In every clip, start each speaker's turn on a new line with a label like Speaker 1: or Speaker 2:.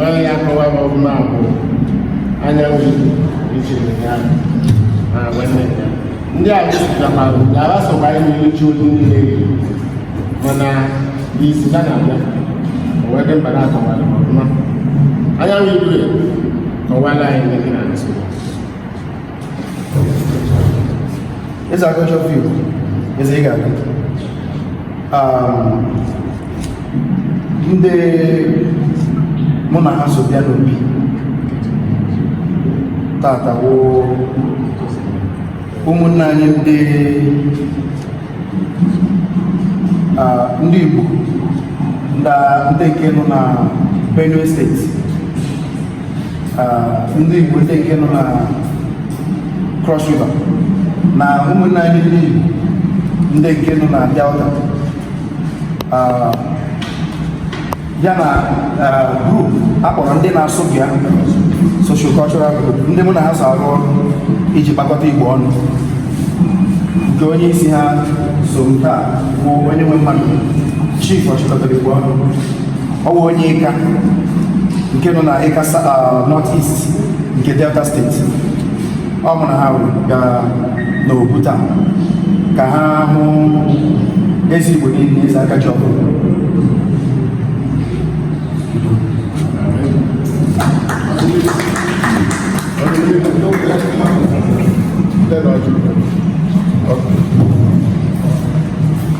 Speaker 1: Onye ya akọwa m ọfụma bụ anyanwụ ichiri ya na nwanne ya ndị a wụsịtakwara ka ha sokwa anyị na-echi otu ndị na-eyi mana isi ha na-abịa o wee dị mkpa na a kọwara m ọfụma anyanwụ igwe kọwara anyị ndị gị na nsogbu
Speaker 2: Eze aka ji ọfọ Igbo. Eze ị ga-adị. Um, ndị mụ na ha so bịa n'obi taata bụ ụmụnna anyị ndị ndị Igbo ndị nke nọ na Benue steeti ndị Igbo ndị nke nọ na Cross River na ụmụnne anyị ndị Igbo ndị nke nọ na Delta ya na group a kpọrọ ndị na-asụ bịa social cultural group ndị mụ na ha so arụ ọrụ iji kpakọta Igbo ọnụ nke onye isi ha so nke a bụ Onyenwemmadụ chief ọchịkọtara Igbo ọnụ ọ bụ onye ịka nke nọ na ịka north east nke delta steeti ọ mụ na ha gara n'obu taa ka ha hụ eze igbo niile eze aka ji ọfọ Igbo.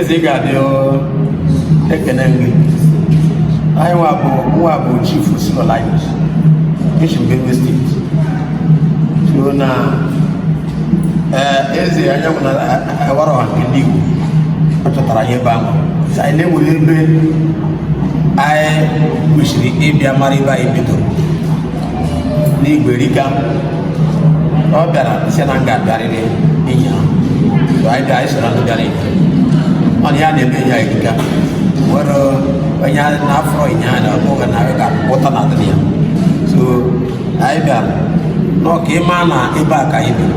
Speaker 2: eze ị ga-adị ekene m gị anyị nwa bụ chief sinolaius bishop benue steeti so na eh, eze anyanwụ na awara eh, ọha nke ndị igbo a chọtara anyị ebe ahụ so anyị na-enwere ebe anyị kwesịrị ịbịa mara ebe anyị bidoro n'igwe Eri ka ọ bịara ise na nga bịarịrị inye ha so anyị bịa anyị soro ndị bịara inye ọ na ya na-eme ya Eri ka nwere onye na-afọ inye ha na ọ bụghị na ga pụta na adịrị ya so anyị bịara n'ọka ịma na ebe a ka anyị bịara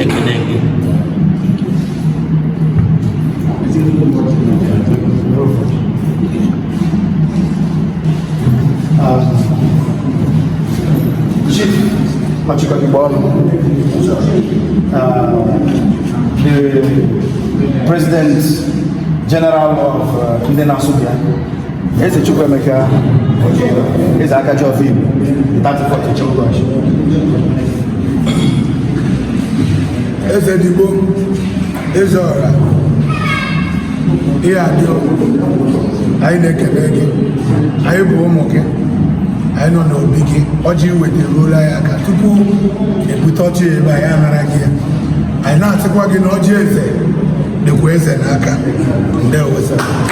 Speaker 2: ekele gị Chief Ọchịkọta Igbo ọnụ the President General of uh, Ndị na-asụ bịa Eze Chukwuemeka Ojiyo, Eze Akajiọfọ Igbo, 34th Chukwash.
Speaker 3: Eze Ndigbo, Eze Ọra, ihe adị anyị na-ekele gị, anyị bụ ụmụ gị, anyị nọ n'obi gị, ọjị i weta eruola anyị aka tupu e bute ọjị ebe anyị anara gị ya. Anyị na-asịkwa gị na ọjị eze dịkwa eze n'aka. Ndewo.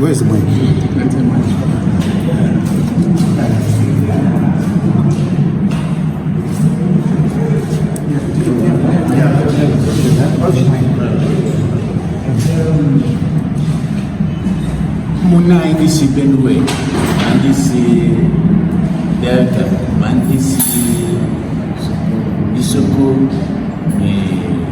Speaker 2: Where's the
Speaker 4: mic? Mụ na ndị si Benue ma ndị si Delta ma ndị si Isoko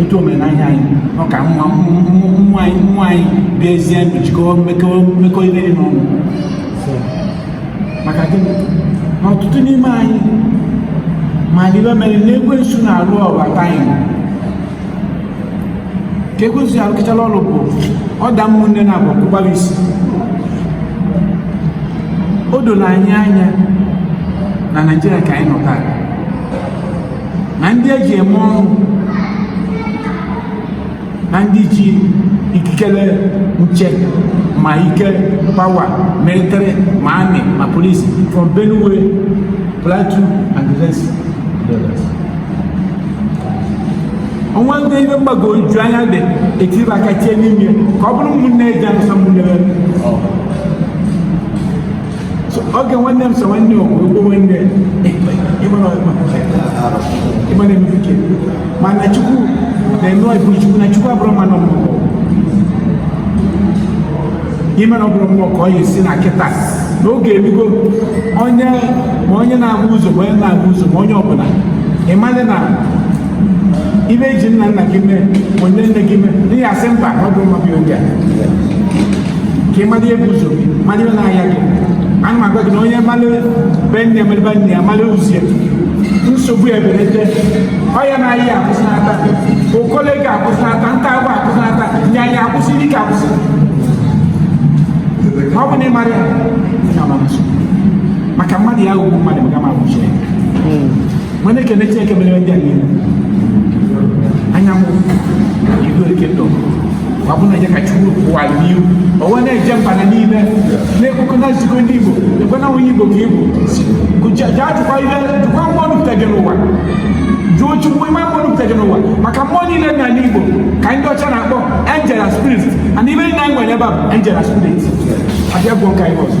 Speaker 4: etu omenahịa anyị nọ ka nwa nwa anyị nwa anyị bịa ezie ndụ jikọọ mmekọ ihe dị n'ọnụ maka gịnị na ọtụtụ n'ime anyị ma n'ibe mere na ekwensu na-alụ ọrụ aka anyị ka ekwensu ya alụkịchala ọrụ bụ ọ da ụmụnne na abụ kụgbara isi o doro anyị anya na Naịjirịa ka anyị nọ taa na ndị e ji eme ọnụ na ndị ji ikikere nche ma ike pawa military ma army ma police from Benue Plateau and the rest o nwe ndị ife mgbagwoju anya dị e tiri aka tie n'ime ka ọ bụrụ ụmụnne e ji anụsa ụmụnne oge nwanne m so nwanne okwu okwu nwanne ịgbana emebuke mana Chukwu na-eme ọ bụ Chukwu na Chukwu abụrọ mmadụ mmụọ ime na ọ bụrụ mmụọ ka ọ ya esi na kịta na oge elugo onye ma onye na-ahụ ụzọ ma onye na-ahụ ụzọ ma onye ọbụla ịmalị na ife e ji nna nna gị mee bụ nne nne gị mee n'ihi asị mba ọ bụ nwa gị oge a ka ị mara ihe bụ ụzọ gị mara ihe na-ahịa gị ana m agwa gị na onye mara be nne mara be nna ya mara ụzọ ya nsogbu eberede ọya na ahịa akwụsịnata okole ga akwụsịnata nta agwa akwụsịnata aya akwụsị ike akwụsị ọ bụ na ị mara ya maka mmadụ ya ugwu mmadụ ga ma akwụsị ya mana ekene Chineke mere ndị anyị anyanwụ ilu eke ndụ ọ bụ na ya ka Chukwu kwụwa n'ihu onwe na-eje mba na niile na-ekwekọ na nzukọ ndị Igbo ekwe na onye Igbo ka ị bụ jee jụkwa ihe jụkwa mmụọ nupụta gị n'ụwa jụọ Chukwu ime mmụọ nupụta gị n'ụwa maka mmụọ niile dị n'ala Igbo ka ndị ọcha na-akpọ angel spirit and ibe na nwere ebe a angel spirit abịa gwọ nka ihe ọzọ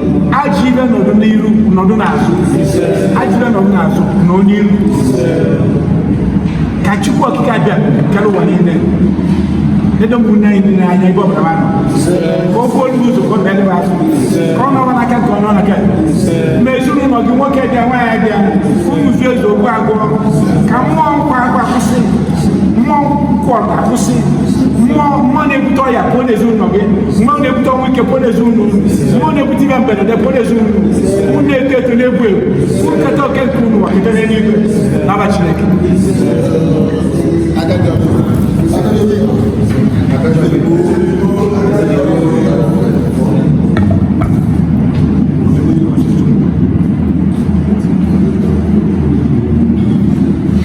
Speaker 4: ajọ ife nọdụ n'iru nọdụ n'azụ ajọ ife nọdụ n'azụ nọ n'iru ka chukwu okike abịa kere ụwa niile ledo ụmụnne anyị niile anya ebe ọbụla ha nọ ka o kwuo ndị ụzọ kọta ebe ahụ ka ọ nọrọ n'aka ka ọ nọ n'aka ma ezinụlọ gị nwoke bịa nwaanyị bịa unu zuo ezu okwu agwụ ka mmụọ nkwa agwa kwụsị mmụọ nkwụ ọta kwụsị mmụọ mmụọ na-ebute ọya pụọ n'ezinụlọ gị mmụọ na-ebute ọnwụ ike pụọ n'ezinụlọ mmụọ na-ebute ihe mberede pụọ n'ezinụlọ unu na-eto eto na-egwu egwu nketa oke nke unu ga-eketa n'eluigwe n'afa Chineke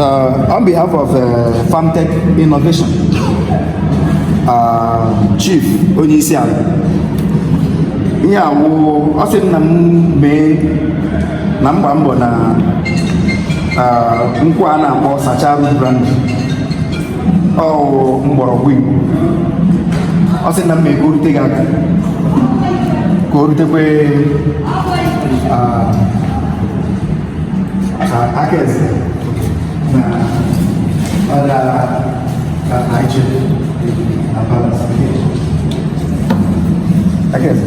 Speaker 2: Uh, on behalf of uh, Farmtech Innovation, uh, Chief Onyeisiala ihe a wụ ọ sị na m mee na mgba mbọ na nkwụ a na-akpọ sacha arụ brand ọwụ mgbọrọgwụ igbo ọ sị na m mee ka o rute gị aka ka o rutekwe aka eze na ọrịa Nigeria na Palace. Aka eze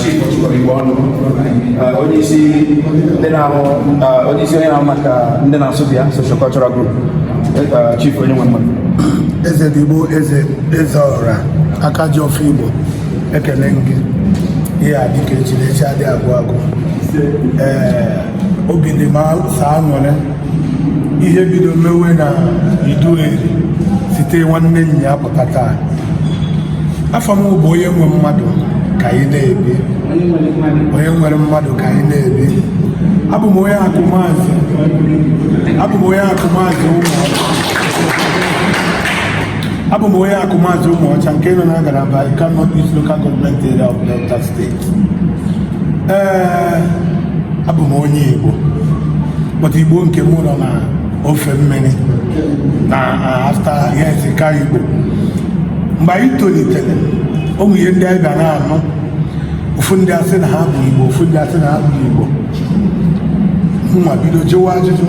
Speaker 2: Chief Igbenu onye isi onye na-ahụ maka ndị na-asụ bịa socio cultural group chief onye nwe mmadụ eze ndị
Speaker 3: Igbo eze eze ọra aka ji ọfọ igbo ekele gị ị ga-adị ka echi na echi adị agwụ agwụ ee obi dị m saa nwere ihe bido mewe na Idu eri site nwanne ụnyaa pụta taa afa m bụ onye nwe mmadụ ka anyị na-ebi onye nwere mmadụ ka anyị na-ebi abụ m onye Akụmazị abụ m onye Akụmazị Ụmụ abụ m onye Akụmazị Ụmụọcha nke nọ na ngalaba Ika North East Local Government Area of Delta State ee abụ m onye Igbo but Igbo nke m nọ na ofe mmiri na Delta area as Ika Igbo mgbe anyị tolitere ụmụ ihe ndị anyị bịa na-anụ ofu ndị asị na ha bụ Igbo ofu ndị asị na ha bụ Igbo mụnwa bido jụwa ajụjụ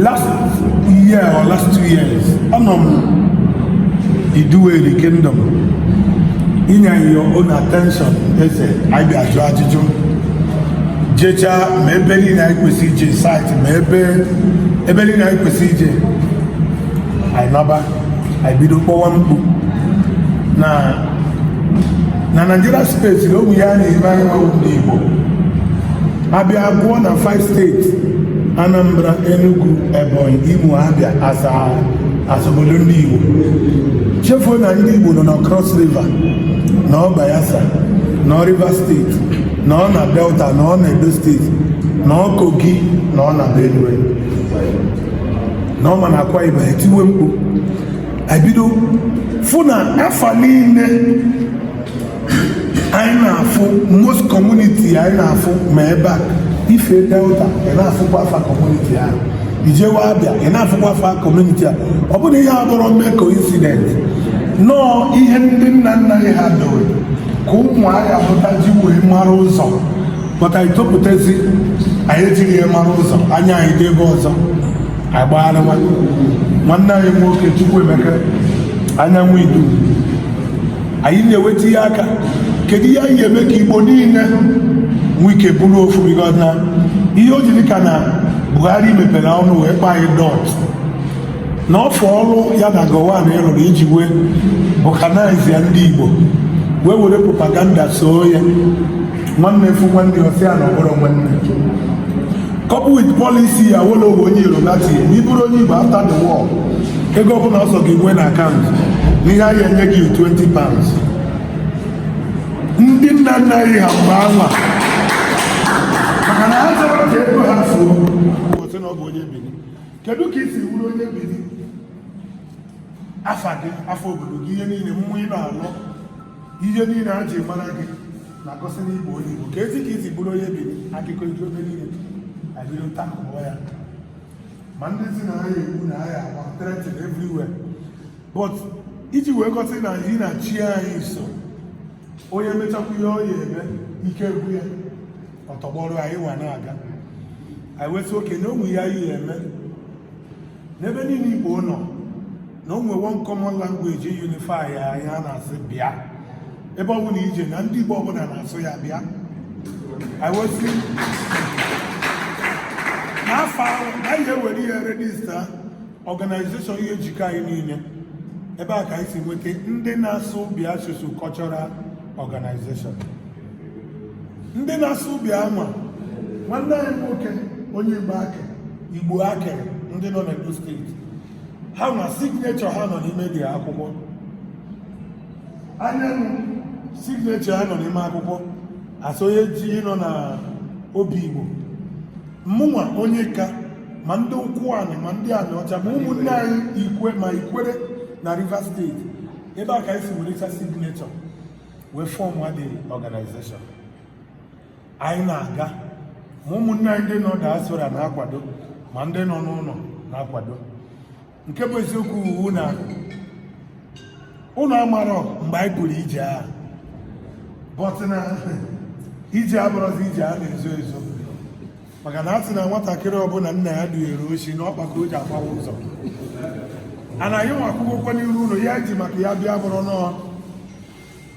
Speaker 3: last year or last two years anọ m Idueri kingdom inye anyị your own attention eze anyị bịa jụọ ajụjụ jechaa ma ebe niile anyị kwesị ije site ma ebe niile anyị kwesị ije anyị naba anyị bido kpọwa mkpu na na Nigeria space na o nwe ihe a na-eme anyị nwa ndị Igbo a bịa gụọ na five steeti Anambra Enugu Ebonyi Imo Abia as as obodo ndị Igbo chefuo na ndị Igbo nọ na Cross River nọ Bayelsa nọ Rivers steeti nọ na Delta nọ na Edo steeti nọ Kogi nọ na Benue nọ ma na Akwa Ibom e tiwe mkpu e bido fụ na afa niile anyị na-afụ most community anyị na-afụ ma ebe a i fee Delta ị na-afụkwa afa community ahụ i jewe Abia ị na-afụkwa afa community a ọ bụ na ihe a abụrọ mere coincident na ọ ihe ndị nna nna anyị ha dowe ka ụmụaka pụta ji wee mara ụzọ but anyị topụtazi anyị ejighị ya mara ụzọ anya anyị dị ebe ọzọ agbagharị nwanne anyị nwoke Chukwuemeka anyanwụ idu anyị na-eweta ihe aka kedu ihe anyị ga-eme ka Igbo niile nwee ike bụrụ ofu because na ihe o jiri ka na Buhari mepere ọnụ wee kpọọ anyị dot na ọfọ ọrụ ya na Gowon rụrụ iji wee balkanize ndị Igbo wee were propaganda soo ya nwanne afụ nwanne ọ sị ya na ọ bụrọ nwanne couple with policy Awolowo onye Yoruba tinye na ị bụrụ onye Igbo after the war ego ọbụla ọ sọ gị nwee na akaụntụ n'ihe a ya-enye gị 20 pounds ndị nna nna anyị ha mgbe anwa maka na ha achọrọ ka ego ha fuo ọ sị na ọ bụ onye Benin kedu ka i si bụrụ onye Benin afa gị afa obodo gị ihe niile mmụọ ị na-alọ ihe niile a ji mara gị na-egosi na ị bụ onye Igbo keezi ka i si bụrụ onye Benin akụkọ iji obe niile abịrị nta akụkọ ya ma ndị sị na a ya-egbu na a ya-agba threaten everywhere but iji wee gosi na anyị na chi anyị so onye mechakwa ihe ọ ya-eme ike agwụ ya ọ tọgbọrọ anyị wee na-aga anyị wesị oke na onwe ya ihe eme n'ebe niile igbo nọ na o nwe one common language unify ya ya a na-asị bịa ebe ọ bụla i je na ndị igbo ọbụla na-asụ ya bịa anyị wee sị n'afọ ahụ na anyị je ewere ya register organization ihe jikọ anyị niile ebe a ka anyị si nweta ndị na-asụ bịa socio cultural organization ndị na-asụ bịa ma nwanne anyị nwoke onye igbo akiri igbo akiri ndị nọ n'Edo steeti ha nwa signature ha nọ n'ime the akwụkwọ anyanwụ signature ha nọ n'ime akwụkwọ asonye ji nọ na obigbo mụnwa onye ika ma ndị ụkwụanị ma ndị anịọcha ma ụmụnne anyị ikwe ma ikwere na Rivers steeti ebe a ka anyị si were signature wee form the organization anyị na-aga ma ụmụnne anyị ndị nọ diaspora na-akwado ma ndị nọ n'ụlọ na-akwado nke bụ eziokwu wụ na ụnụ amarọ mgbe anyị pụrụ ije a but na ije a abụrọzi ije a na-ezo ezo maka na a sị na nwatakịrị ọbụla nna ya dunyere oshi na ọkpa ka o ji agbawa ụzọ and anyị nwa kwụkwa n'iru ụnụ ya ji maka ya bịa bụrọ nọọ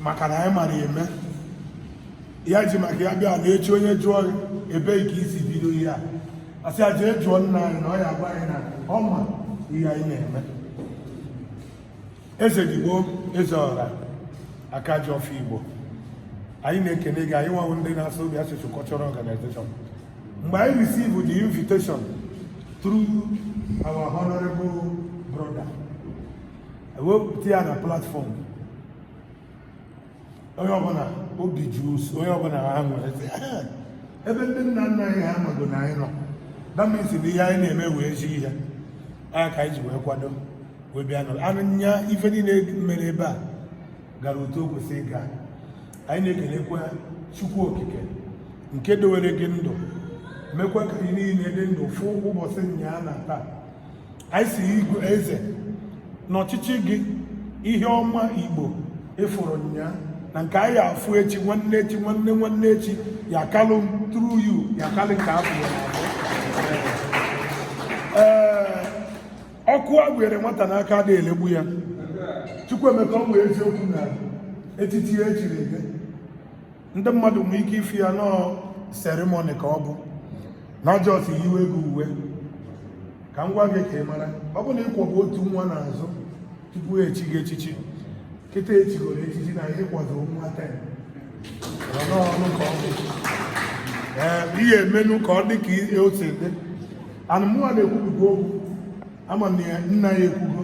Speaker 3: maka na anyị mara eme ya ji maka ya bịa na echi onye jụọ ebee ka i si bido ihe a a sị ya jee jụọ nna anyị na ọ ya agwa anyị na ọ ma ihe anyị na-eme eze ndigbo eze ọra aka ji ọfọ igbo anyị na-ekene gị anyị nwa wụ ndị na-asụ bịa socio cultural organization mgbe anyị receive the invitation through our honorable brother e wepụta ya na platform onye ọbụla obi jụrụ onye ọbụla anyị wee sị ebe ndị nna nna anyị ha amago na anyị nọ that means na ihe anyị na-eme wụ ezi ihe nya ka anyị ji wee kwado wee bịa nọrọ ụnyaa ife niile mere ebe a gara otu o kwesịrị ịga anyị na-ekelekwa chukwu okike nke dowere gị ndụ mekwa ka anyị niile dị ndụ fụ ụbọchị nyaa na taa anyị sị igwe eze n'ọchịchị gị ihe ọma igbo ị fụrụ ụnyaa na nke a ya-afụ echi nwanne echi nwanne nwanne echi ya kalị through you ya kalị nke afọ ya ee ọkụ a gụnyere nwata n'aka adịghị elegbu ya Chukwuemeka ọ bụ eziokwu na etiti e chiri gị ndị mmadụ nwee ike ịfụ ya nọọ ceremony ka ọ bụ na a just yiwe gị uwe ka m gwa gị ka ị mara ọ bụ na ị kwọbu otu nwa n'azụ tupu e chi gị echichi kịta e chigoro echichi na ihe kwado nwa ten ọnụ ka ọ bụ ihe e menụ ka ọ dị ka e o si dị anụmụnwa na-ekwupụta okwu a ma na nna ya ekwugo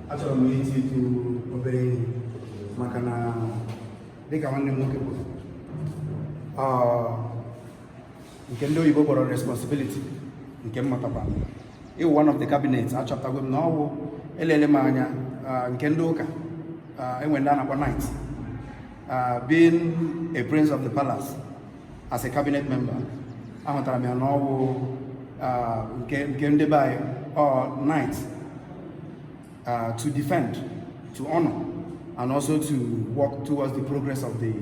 Speaker 2: achọrọ m iti ịtụ obere ihe maka na dịka nwanne m nwoke kwuru nke ndị oyibo kpọrọ responsibility nke m matakwa ịwụ one of the cabinet achọpụtago m na ọ bụ elele m anya nke ndị ụka e nwe ndị a na-akpọ knight being a prince of the palace as a cabinet member ahụtara m ya na ọwụ nke ndị be anyị knight to defend to honor and also to work towards the progress of the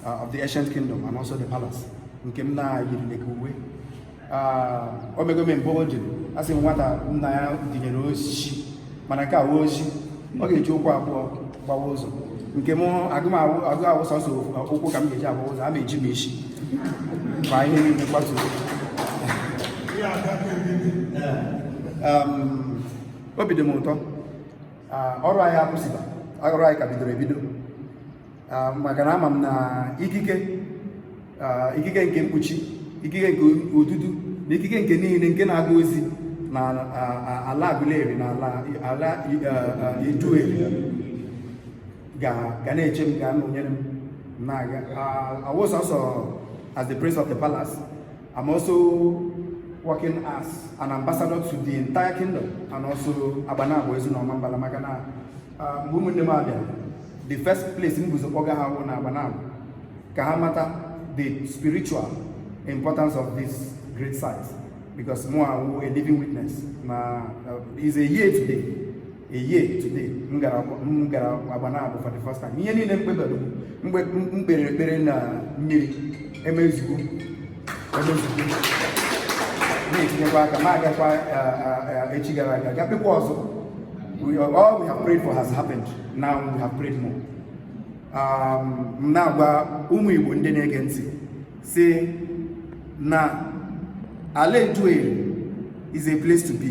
Speaker 2: uh, of the ancient kingdom and also the palace nke m na-eyiri uwe o mego m embolden a sị nwata nna ya dunyere oshi mana nke a awụghị oshi ọ ga-eji ụkwụ abụọ gbawa ụzọ nke m agụ awụ sọsọ ụkwụ ka m ga-eji agbawa ụzọ a ma eji m isi ma ihe niile kwatuo obi dị m ụtọ ọrụ anyị akwụsịba ọrụ anyị ka bidoro ebido ah, maka na ama m na ikike ah, ikike nke mkpuchi ikike nke odudu na ikike nke niile nke na-aga ozi na ah, ala Aguleri na ala Idueri ga na-eche m ga-anọnyere m na-aga I was also as the prince of the palace I'm also working as an ambassador to the entire kingdom and also Agbanabo Ezu na Ọmambala maka na Ah, mgbe ụmụnne m a bịara the first place m bu ụzọ kpọga ha wụ na Agbanabo ka ha mata the spiritual importance of this great site because mụwa wụ a living witness na uh, is a year today a year today m gara m gara Agbanabo for the first time ihe niile m kpere mgbe m kpere ekpere na mmiri emezugo na-etinyekwa aka ma agakwa echi gara aga ga kpekwa ọzọ all we have prayed for has happened now we have prayed more um, m na-agwa ụmụ Igbo ndị na-ege ntị sị na ala Idueri is a place to be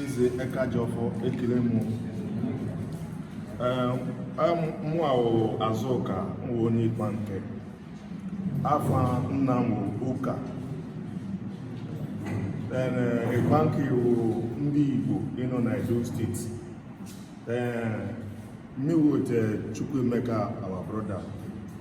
Speaker 5: Eze Akajiọfọ ekele m mụ awụ Azụka nwa onye Igbanke afa nna m wụ Ọka Igbanke wụ ndị Igbo ịnọ na Edo State ee me with Chukwuemeka our brother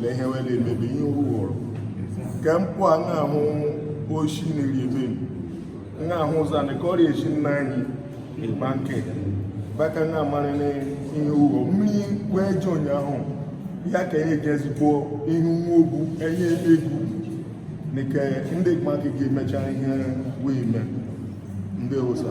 Speaker 5: lee ihe wele emebe ihe ụghọrọ nke mpụ a na-ahụ oshi na-eri emebi na-ahụ ụzọ anị ka ọrịa echi nna anyị ịkpa nke baka na amarị na ihe ụghọ mmiri wee ji ụnyaahụ ya ka enye gị ezigbo ihu nwa ogwu enye egwu nke ndị ịkpa nke ga-emecha ihe wee mee ndị ụsa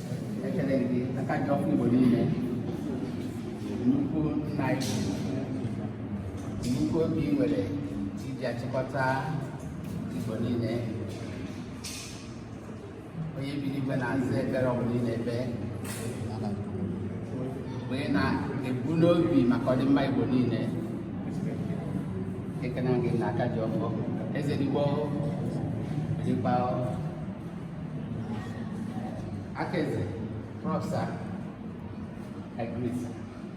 Speaker 6: ekele gị aka ji ọfọ igbo niile nnukwu nna anyị nnukwu obi nwere iji achịkọta igbo niile onye biri igwe na-aza ekpere ọbụla ị na-ekpe mgbe ị na-ebu n'obi maka ọdịmma igbo niile ekene gị na aka ji ọfọ eze ndị igbo dịkpa Aka Eze, Prof. Sir, I greet sir.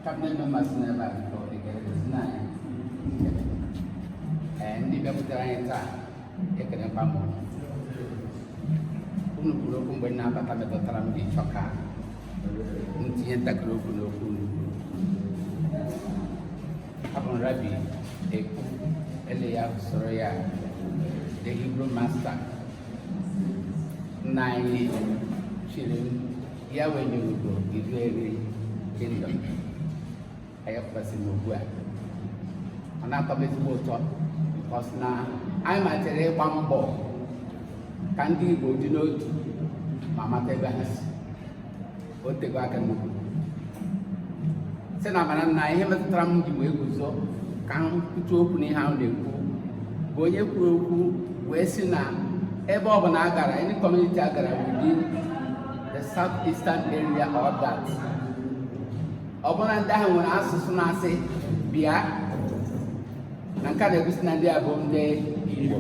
Speaker 6: Cabinet members n'ebe a biko ekele gosi na anyị nkele. Ee, ndị bịakwutere anyị taa ekelekwa m unu. Unu kwuru okwu mgbe m na-abata metụtara m ji chọọ ka m tinye ntakịrị okwu n'okwu unu kwuru. Abụ m Rabbi Ekwu, ele ya usoro ya, the Hebrew master nna anyị chiri ya wenye ugo Iduu Eri kingdom anyị kwụkwasị m ugbu a ọ na-atọ m ezigbo ụtọ because na anyị malitere ịgba mbọ ka ndị Igbo dị n'otu ma mata ebe ha si o tego aka nnukwu sị na mara na ihe metụtara m ji wee guzo ka m kwutu okwu n'ihe a na-ekwu bụ onye kwuru okwu wee sị na ebe ọ bụla a gara any community a gara within the south eastern area or that ọ bụla ndị ahụ nwere asụsụ na-asị bịa na nke a na-egosi na ndị a bụ ndị igbo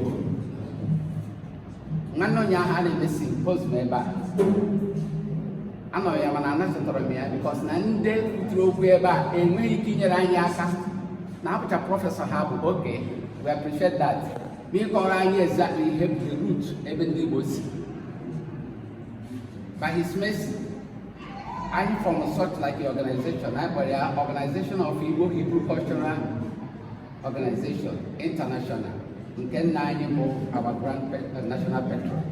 Speaker 6: nwanne onye ahụ a na-emesi post m ebe a anọghị ya mana anachọtara m ya because na ndị kwuturu okwu ebe a enweghị ike inyere anyị aka na abụcha prọfesọ ha bụ okay we appreciate that ma ị kọọrọ anyị exactly ihe bụ the root ebe ndị Igbo si by his mercy anyị form something like a organization anyị kpọrọ ya organization of Igbo Hebrew cultural Organization International nke nna anyị bụ our grand uh, national patron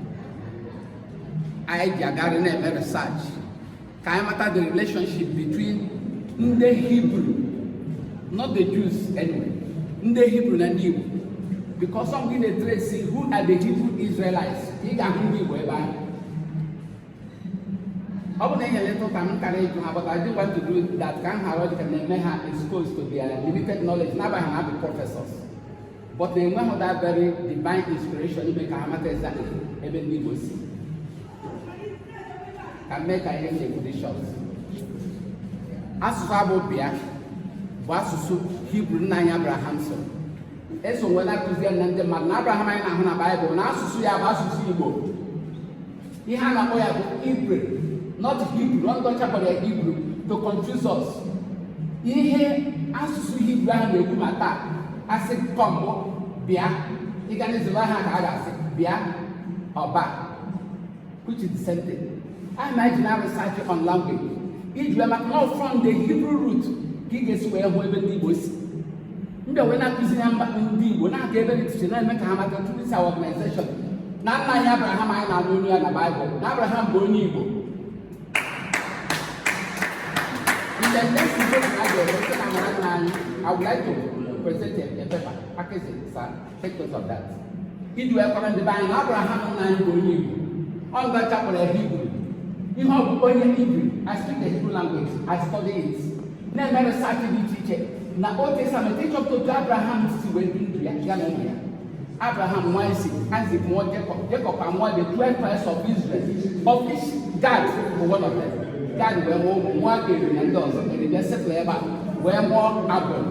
Speaker 6: anyị ji agarị na-eme research ka anyị mata the relationship between ndị Hebrew not the Jews anyway ndị Hebrew na ndị Igbo because assuming ị na-etrace who are the Hebrew Israelites ị ga-ahụ ndị Igbo ebe ahụ ọ bụ na enyere ntụ ka m kara ịjụ ha but I didn't want to do that ka m ghara ọ dị ka na-eme ha exposed to their limited knowledge n'agbanyeghị na ha bụ professors but ha enweghị that very divine inspiration ime ka ha mata exactly ebe ndị Igbo si ka m mee ka ihe m na-ekwu dị short asụsụ a bụ bịa bụ asụsụ hibru nna anyị abraham so eso wee na-akụzi ya na ndị mmadụ na abraham anyị na-ahụ na baịbụl na asụsụ ya bụ asụsụ igbo ihe a na-akpọ ya bụ ibre not Hebrew ọ ndị ọcha kpọrọ ya hibru to confuse us ihe asụsụ hibru ahụ na-ekwu ma taa a sị come bụ bịa ị gaa n'Izrel ha ka ga-asị bịa or ba which is the same thing anyị ma eji na-arụ research on language iji wee mata na ọ from the Hebrew root ka ị ga-esi wee hụ ebe ndị igbo si ndị wee na-akụzi ha mba ndị Igbo na-aga ebe dị iche na-eme ka ha mata through this organization na nna anyị Abraham anyị na-anụ olu ya na Baịbụl na Abraham bụ onye Igbo the next debate I would like to present a paper, package, sir. iji wee kọrọ ndị be anyị na abraham nna anyị bụ onye igbo ọ ndị ọcha kpọrọ ya hibru ihe ọ bụ bụ onye hibru i speak the hebrew language i study it na-eme research dị iche iche na old testament ịchọpụta otu abraham si wee bie ndụ ya ya na ụmụ ya abraham mụọ isaac isaac mụọ jacob jacob amụọ the twelve tribes of israel of which gad bụ one of them gad wee mụọ ụmụ nwoke eri na ndị ọzọ eri bịa settle ebe a wee mụọ agbụrụ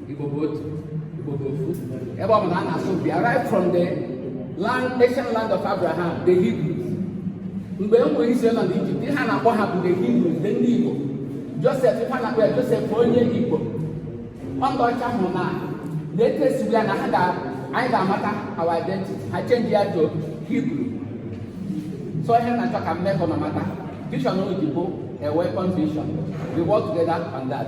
Speaker 6: Igbo bụ otu Igbo bụ ofu ebe ọ bụla a na-asụ bịa right from the land ancient land of Abraham the Hebrews mgbe ụmụ Izrel nọ n'Ijipt ihe a na-akpọ ha bụ the Hebrews the ndị Igbo Josef ha na-akpọ ya Josef onye Igbo ọ ndị ọcha hụ na na etu esi bịa na ha ga anyị ga-amata our identity ha change ya to Hebrew so ihe m na-achọ ka m mee ka unu mata vision of Igbo a weapon vision we work together on that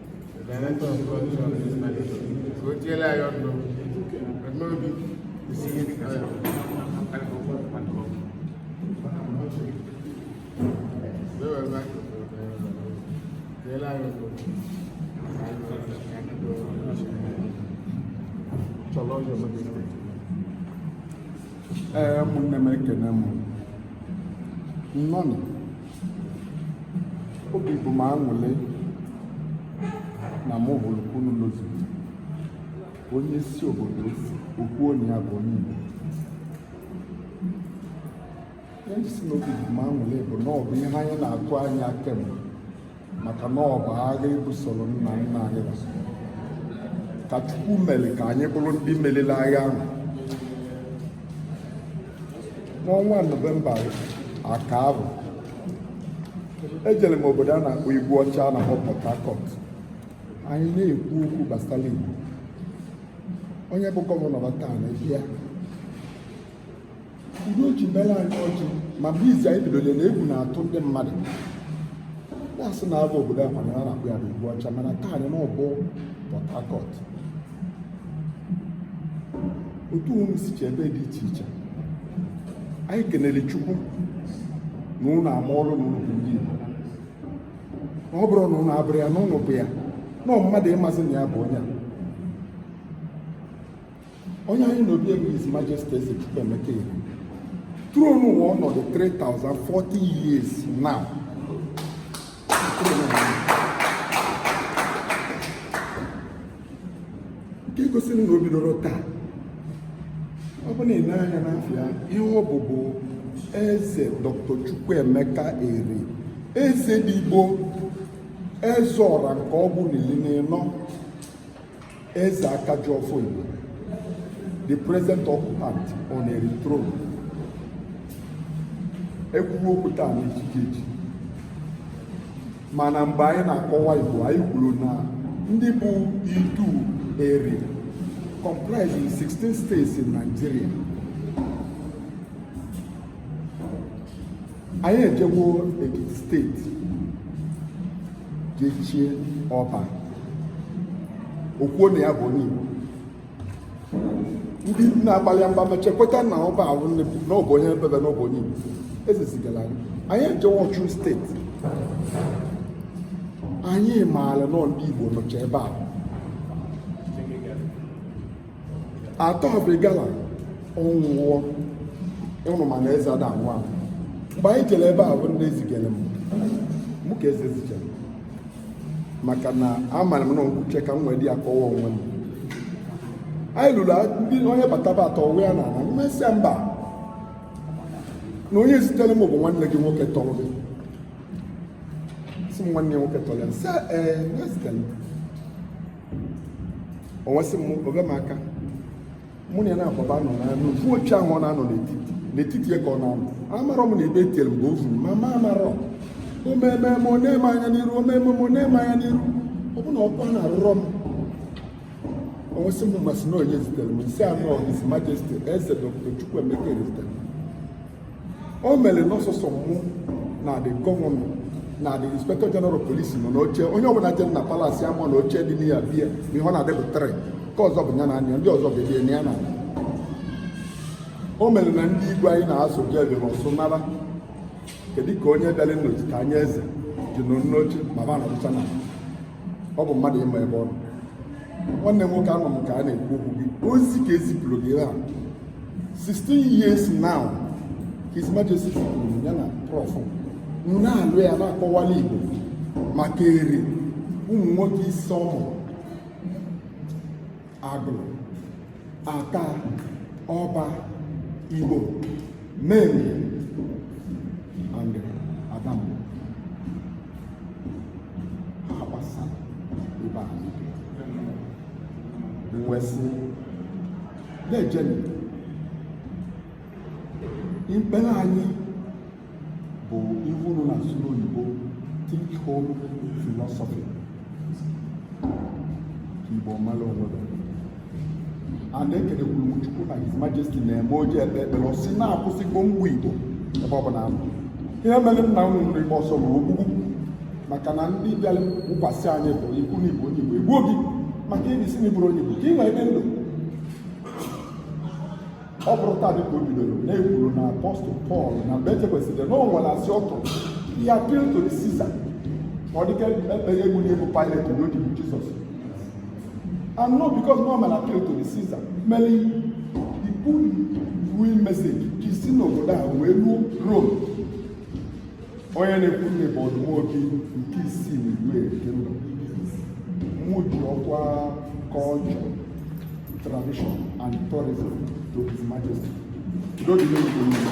Speaker 1: ee
Speaker 7: ụmụnne m ekene m nnọọ nụ obi bụ m aṅụlị na mụ hụrụ unu n'ozugbo onye si obodo o si okwu onye ya bụ onye Igbo ihe m ji sị na obi bụ m aṅụlị bụ na ọ bụ ihe anyị na-atụ anya kemgbe maka na ọ bụ agha ebusoro nna nna anyị ka Chukwu mere ka anyị bụrụ ndị meriri agha ahụ n'ọnwa nọvemba aka ahụ ejere m obodo a na-akpọ Igu Ọcha a na-akpọ Port Harcourt anyị na-ekwu okwu gbasara Igbo onye bụ gọvanọ taa n'ebe a ụdị o ji mere anyị ọjị ma mgbe izi anyị bidoro na egwu na-atụ ndị mmadụ na-asị na agwa obodo a kwanyere a na-akpọ ya bụ Igu Ọcha mana taa anyị na ọ bụ Port Harcourt otu unu sicha ebe dị iche iche anyị kenere Chukwu na unu amaworo na unu bụ ndị Igbo ọ bụrọ na unu abụrọ ya na unu bụ ya na mmadụ ịmazi na ya bụ onye a onye anyị nọ obi ya bụ His Majesty Eze Chukwuemeka Eri throne ụwa ọnọdụ 3040 years now nke gosiri na o bidorọ taa ọ bụ na ị na-anya n'afa ya ihe ọ bụ bụ eze Dr. Chukwuemeka Eri eze dị Igbo eze ọra nke ọgụ n'ili n'ịnọ Eze Akajiọfọ Igbo, the present occupant on Eri throne, ekwuwe okwu taa na chi ga-eji mana mgbe anyị na-akọwa Igbo anyị kwuru na ndị bụ Idu Eri comprising 16 states in Nigeria anyị ejewo Ekiti steeti je chie ọba o kwuo na ya bụ onye Igbo ndị na-agbalị mba mechaa kweta na ọba ahụ na ọ bụ onye ebebe na ọ bụ onye Igbo ezizigara anyị anyị ejewo Osun steeti anyị maara na ndị Igbo nọcha ebe a Attah of Igala ọ nwụọ ịnụ mana eze ada anwụ anwụ mgbe anyị jere ebe a bụ ndị ezigere m mụ ka eze zijere maka na amara m na nkwuche ka m nwee dị ya kọwa onwe m anyị lulu ndị onye bataba atọọ onwe ya n'ala m asị ya mba na onye zitere m bụ nwanne gị nwoke tọrọ gị sị m nwanne nwoke tọrọ ya sị ee eh, na ya zitere m o wee sị m oge m aka mụ na ya na-agbaba nọ na n'ofu oche ahụ ọ na-anọ n'etiti n'etiti ya ka ọ na-anọ amarọ m na ebe etiere mgbe o furu ma ma amarọ omeme m o nee m anya n'iru omeme m o nee m anya n'iru ọ bụ na ọkpa na-arụrọ m o wee sị m m asị na onye zitere m m sị ya na ọ His Majesty Eze Dr. Chukwuemeka zitere o mere n'ọsụsọ mụ na the gọvanọ na the inspector general of police nọ n'oche onye ọbụla jere na palace ama na oche dị n'iya bie ma ihe ọ na-adịbụ trị ka ọzọ bụ ya na anya ndị ọzọ ga-ebie na ya na o mere na ndị igwe anyị na-asụ bịa bịara ọsụ nara kedu ka onye bịara nnọchite anya eze ji nọ n'oche ma ba nọrụcha na ọ bụ mmadụ ịma ebe ọ nọ nwanne m nwoke anọ m ka a na-ekwu okwu gị ozi ka ezipụrụ gị ha 16 years now his majesty kwuru ya na prof na-alụ ya na-akọwala igbo maka eri ụmụ nwoke ise ọ mụrụ agụlụ atta ọba igbo menri and adamgbo ha gbasara ebe a wesị na-ejeni ikpere anyị bụ ihe unu na-asụ n'oyibo think home philosophy ka igbo mara onwe a na-ekenekwuru m chukwu na his majesty na-eme o ji ekpe ekpere ọ sị na akwụsịgo mgbu igbo ebe ọ bụla anọ ihe mere nna unu eri gbaa ọsọ bụ ogbugbu maka na ndị bịara wụkwasị anyị bụ ikwu na ị bụ onye igbo egbuo gị maka ị na-asị na ị bụrọ onye igbo ka ị wee dị ndụ ọ bụrụ taa dịka o bidoro na-ekwuru na apọstụl pọl na mgbe echekwesịrị na o nwere asị ọ tụrụ ya appeal to caesar ka ọ dịka ekpeghe egwu na egwu pilate na odibo jizọs and no because no man appeal to caesar meli ibu win message ji si n'obodo a wee ruo rome onye na-ekwunụ bụ ọdụ nwobi nke isii n'igwe nke ndụ mụ ji ọkwa culture tradition and tourism to his majesty udo dị n'obodo niile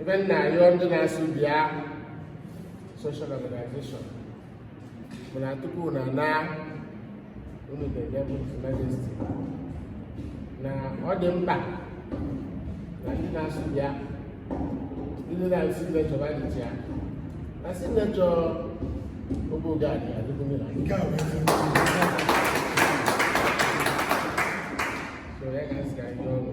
Speaker 8: ebe m na-arịọ ndị na-asụ bịa social organization bụ na tupu na na unu ga-enye his majesty na ọ dị mkpa na ndị na-asụ bịa ndị na-asụ bịa chọba dị ya na si na chọ obu gad adịgo mmiri nke a wee so ya ga-asị ka anyị ọnụ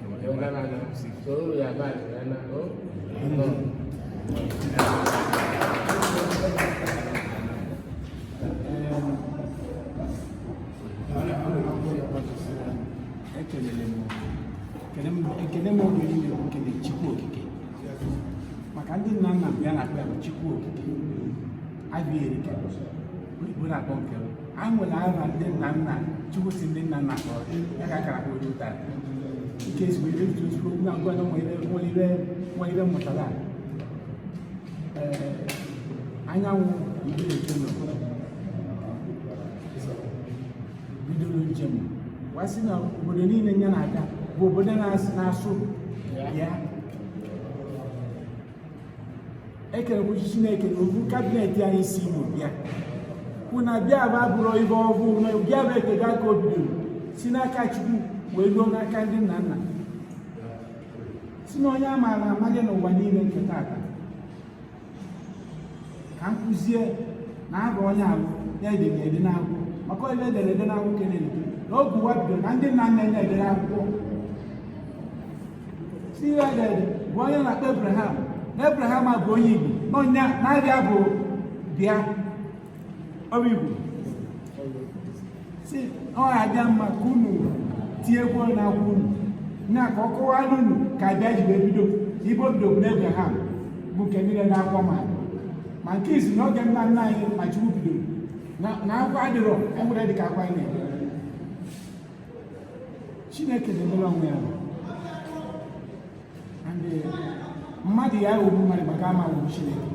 Speaker 4: ekele m oge niile bụ ikele Chukwu Okike maka ndị nna nna m ha na-akpọ ya bụ Chukwu Okike abịa erike Igbo na-akpọ nke m a nwere aha ndị nna nna chukwu si ndị nna nna kpọrọ ya ka akara kpọrọ ụta nke ezigbo ihe eji ozugbo ngwa ngwa na nwere ire nwa ire mụtara anyanwụ igbo na-eto n'obodo bidoro njem wee sị na obodo niile ya na-aga bụ obodo na-asụ ya ekerekwuchi chineke na ovu kabinet anyị si igbo bịa kwụ na abịa abụrọ ibe ọhụụ na abịa bụ ekega ka o bidoro si n'aka chukwu wee ruo n'aka ndị nna nna si na onye a maara amaghị n'ụwa niile nke tata ka m kụzie na abụ onye ahụ edere ede n'akwụkwọ maka ibe edere ede n'akwụkwọ kelere na oge ụwa bidoro na ndị nna nna ederọ akwụkwọ si ihe edere bụ onye na-akpọ Abraham na Abraham abụ onye Igbo n'ọnya na-abịa bụ bịa ọ bụ Igbo si ọ ga-adị mma ka unu tinyekwu na akwụkwọ unu na ka a kọwara unu ka abịa ji wee bido Igbo bido bụ na Abraham bụ nke niile na-akwa ma ma nke isi na oge nna nna anyị ma Chukwu bidoro na akwa adịrọ enwere dịka akwa anyị na-eme Chineke na-emere onwe ya mmadụ ya aghọgbu mmadụ maka ama aghọgbu Chineke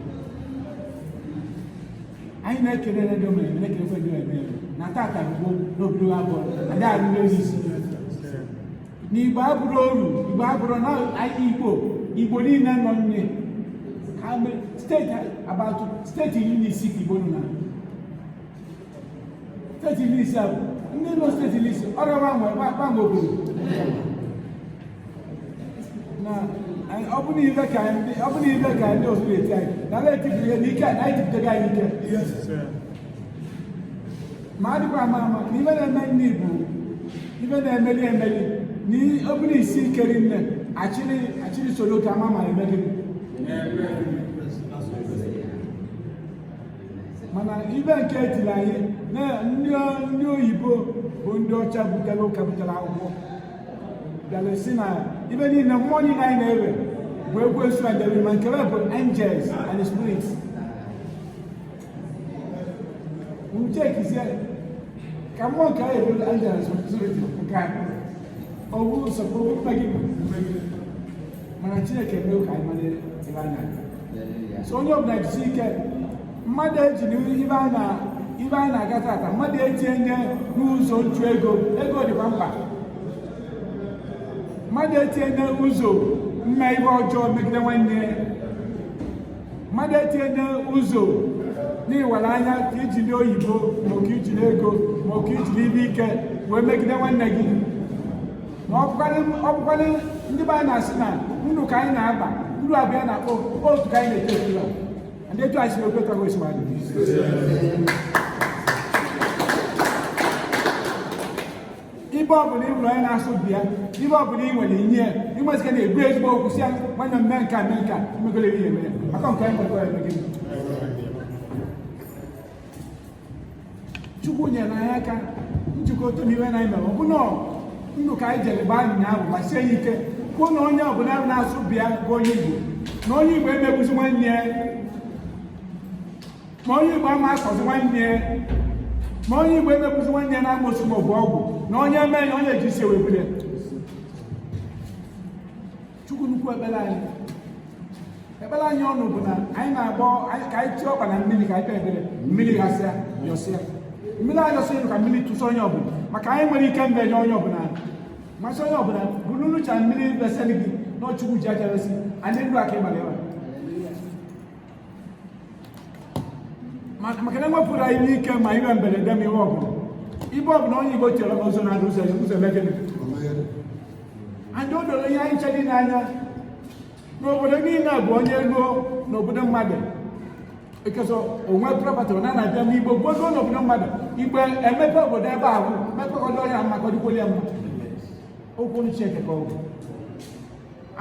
Speaker 4: anyị na-ekele ndị omere na-ekelekwa ndị omere na tata bụ n'obodo abụọ adị arụrụ ezi na igbo abụrụ oru igbo abụrụ na anyị igbo igbo niile nọ n'ime steeti abatụ steeti iri na isii ka igbo nọ na steeti iri isii ahụ ndị nọ steeti iri isii ọ ga-agbanwe gbanwe obodo na ọ bụ n'ibe ka ndị ọ bụ n'ibe ka ndị otu eti anyị na ala etipụ ihe na ike na anyị tipụtaghị anyị ike ma adịkwa ama ama na ibe na-eme ndị Igbo ibe na-emeli emeli na ọ bụrụ isi ike nne achịrị achịrị soro otu ama ma emeli mana ibe nke etiri anyị na ndị oyibo bụ ndị ọcha butere ụka butere akwụkwọ bịara sị na ibe niile mmụọ niile anyị na-efe bụ ekwensu adịrọ mma nke fa bụ angels and spirits uche kizie ka mmụọ nke anyị bụ angels and spirits nke a ọ bụrụ nsọpụrụ mmegide mana chineke mee ka anyị mara ibe a na-aga so onye ọbụla jisi ike mmadụ eji ibe a na-aga tata mmadụ etinye nye n'ụzọ nchụ ego ego dịkwa mkpa mmadụ etinye nye ụzọ mme ibe ọjọọ megide nwanne mmadụ etinye nye ụzọ n'iwere anya ka iji ndị oyibo maka iji n'ego maka iji n'ibe ike wee megide nwanne gị ma ọ bụkwanụ ndị be anyị na-asị na ndụ ka anyị na-agba ndụ abịa na-akpọ otu ka anyị na-eto eto ndị etu anyị si obi ụtọ gosi ma ibe ọbụla ị bụrụ onye na-asụ bịa ibe ọbụla ị nwere inye ya ịmezika na-ebu ezigbo okwu sị ya nwanne mme nka mme nka mmegolere ya eme ya maka nke anyị nwekọrọ eme gịnị chukwu nyere anyị aka njikọ otu n'ihe anyị mere ọ bụ na ndụ ka anyị jere gbaa nya ahụ gbasie ya ike kwuo na onye ọbụla na-asụ bịa bụ onye igbo na onye igbo ama egbuzi nwanne ya na onye igbo ama akọzi nwanne ya na onye igbo ama egbuzi nwanne ya n'amosu ma ọ bụ ọgwụ na onye eme ya onye eji isi webule chukwu nnukwu ekpere anyị ekpere anyị ọnụ bụ na anyị na-agọ ka anyị tie ọkpa na mmiri ka anyị kpee ekpere mmiri gasịa yọsịa mmiri ayọsịa elu ka mmiri tụsa onye ọbụla maka anyị nwere ike mbe nye onye ọbụla masị onye ọbụla bụrụ nụcha mmiri besịrị gị na ọ chukwu ji aja resi anyị ndụ aka ịgbara ịwa maka na ewepụrụ anyị ọnwụ ike ma ibe mberede ma ibe ọbụla ibe ọbụla onye igbo chere n'ụzọ na-adị ụzọ ya ụzọ mee gịnị anyị o doro ihe anyị che dị n'anya n'obodo niile bụ onye ruo n'obodo mmadụ ekesọ onwe prọpatị na na-abịa n'igbo gbodo n'obodo mmadụ igbo emepe obodo ebe ahụ mepekọdo ya maka ọdịkwoli ya mma okwu Chineke ka ọ bụ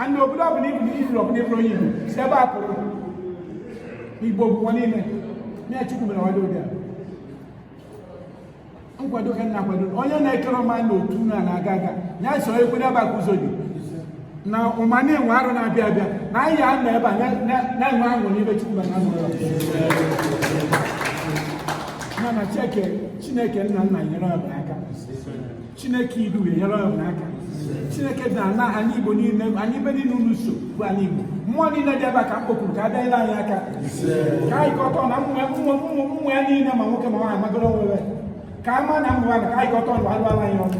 Speaker 4: ana obodo ọbụla ibu ifuru ọbụla ifuru onye Igbo si ebe a pụrụ Igbo bụ ụwa niile na Chukwu mere ọdị ụdị a nkwado ka a na-akwado onye na-ekere ọma na otu na na-aga aga ya so ekwe n'ebe a ka ụzọ dị na ụma na-enwe arọ na-abịa abịa na anyị ya nọ ebe a na-enwe ahụ n'ebe Chukwu na azụ ya na Chineke nna nna nyere ọbụla aka chineke idu nyere ọbụla aka chineke dị ana anị igbo niile anyị be niile unu so bụ anị igbo mmụọ niile dị ebe a ka m kpokuru ka a bịa nyere anyị aka ka anyị kọtọ na ụmụ ya niile ma nwoke ma nwaanyị magoro nwere ka a ma na mmụọ ya ka anyị kọtọ ndụ alụala anyị ọnụ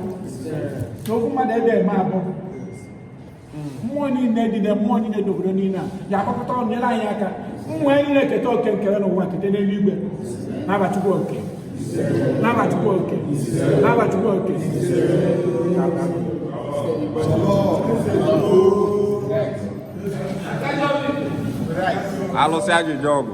Speaker 4: na okwu mmadụ ebe eme abụọ mmụọ niile dị na mmụọ niile dị n'obodo niile a ya akpakọta ọnụ nyere anyị aka mmụọ anyị niile keta oke nkere n'ụwa kete n'eluigwe na-abachukwu oke na-abachukwu oke na-abachukwu
Speaker 9: oke alụsị ajụjụ ọgụ